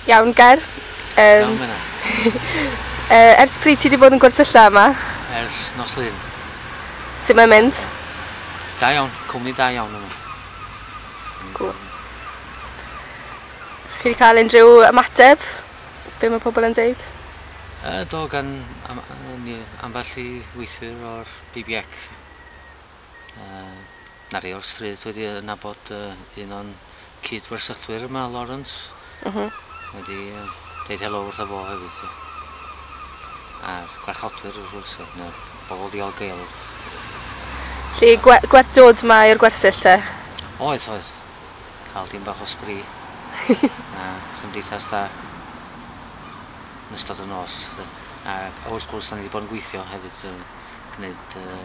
Iawn Ger. Yym. Iawn Menna. Yy ers pryd ti 'di bod yn gwersylla yma? Ers nos Lun. Sut mae'n mynd? Da iawn, cwmni da iawn yma. Cŵl. Chi 'di cael unrhyw ymateb? Be' ma' pobl yn deud? Yy do gan am- yy ni ambell i weithwyr o'r BBX. Yy 'na rheol stryd wedi yy nabod yy un o'n cyd-wersyllwyr yma Lawrence. M-hm. Wedi yy deud helo wrtho fo hefyd 'lly. A'r gwarchodwyr wrth gwrs yy ne' bobol ddiolgeulwch. Lly gwe- gwerth dod 'ma i'r gwersyll te? Oedd oedd. Ca'l dipyn bach o sbri. A chymdeithas dda yn ystod y nos 'lly. A a wrth gwrs 'dan ni 'di bod yn gweithio hefyd yn gneud yy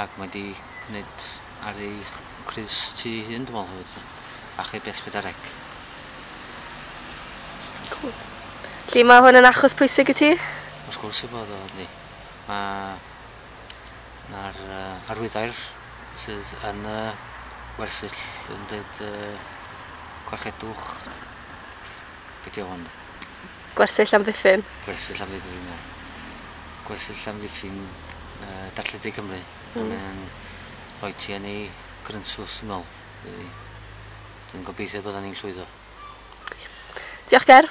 Ac mae di gwneud ar ei crys ti ei hun dwi me'wl hefyd do? Achub Esbyddareg. Cŵl. Felly ma' hwn yn achos pwysig i ti? Wrth gwrs ei fod o yndi. Ma' ma'r yy arwyddair sydd yn y wersyll yn deud yy gorchedwch be' 'di o hwn? Gwersyll amddiffyn. Gwersyll amddiffyn, ie. Gwersyll amddiffyn Darllen De Cymru. Mm. Mae'n rhoi ti yn ei grynsws, dwi'n meddwl. Dwi'n gobeithio bod ni'n llwyddo. Diolch, Ger.